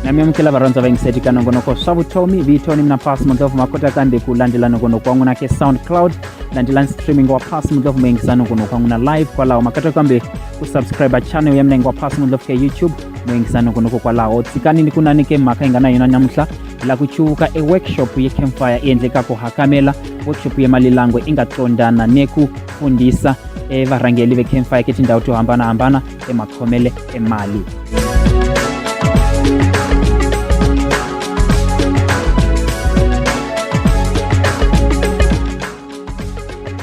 namyamukela varhandza va yingiseti ka nongonoko swa vutomi vito ni mina pas mundlovu ma kota kambe ku landzela nongonoko wa n'wina ke soundcloud landzelani streaming wa pas mundlovu ma yingisa nongonoko wa n'wina live kwalaho ma kota kambe ku subscribe channel ya mina yingi wa pas mundlovu ke youtube ma yingisa nongonoko kwalaho tsikani ni ku nani ke mhaka yi nga na yona namuntlha la ku chuka e workshop ye campfire e endleka ku hakamela workshop ye malilangwe i nga tsondana ne ku fundisa e varhangeli ve campfire ke tindhawu to hambanahambana emakhomele e mali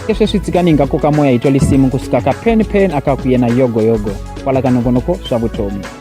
ke sweswi tsikani hi nga koka moya hi twa lisimu kusuka ka pen pen aka ku yena yogoyogo kwala ka nongonoko swa vutomi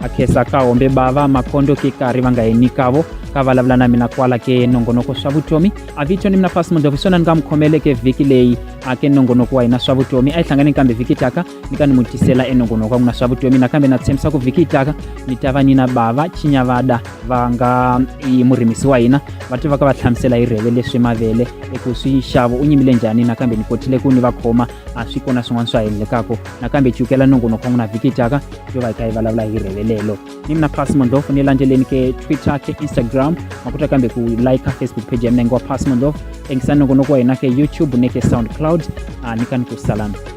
akhesa ka hombe bava makondo ke kari va nga yini kavo ka vulavula na mina kwala ke nongonoko swa vutomi a vito ni mina fasi mundovi swona ni nga mu khomeleke vhiki leyi a ke nongonoko wa hina swa vutomi a yi hlangane kambe vhiki taka ni ka ni mu tisela enongonoko wa n'wina swa vutomi nakambe na tshembisa ku vhiki taka ni ta va ni na bava chinyavada va nga yi murimisi wa hina va tiva ka va hlamusela hi rheve leswi mavele eku swi xavo u nyimile njhani nakambe ni kotile ku ni va khoma a swi kona swin'wana swa hendlekako nakambe cukela nongonoko wa n'wina vhiki taka yo va yi kha yi vulavula hi rhevelelo ni mina pass mondlof ni landzeleni ke twitter ke instagram ma kota kambe ku like facebook page ya mina ngi wa pass mondlof tengisa nongonoko wa hina ke youtube ni ke soundcloud a ni kani ku salana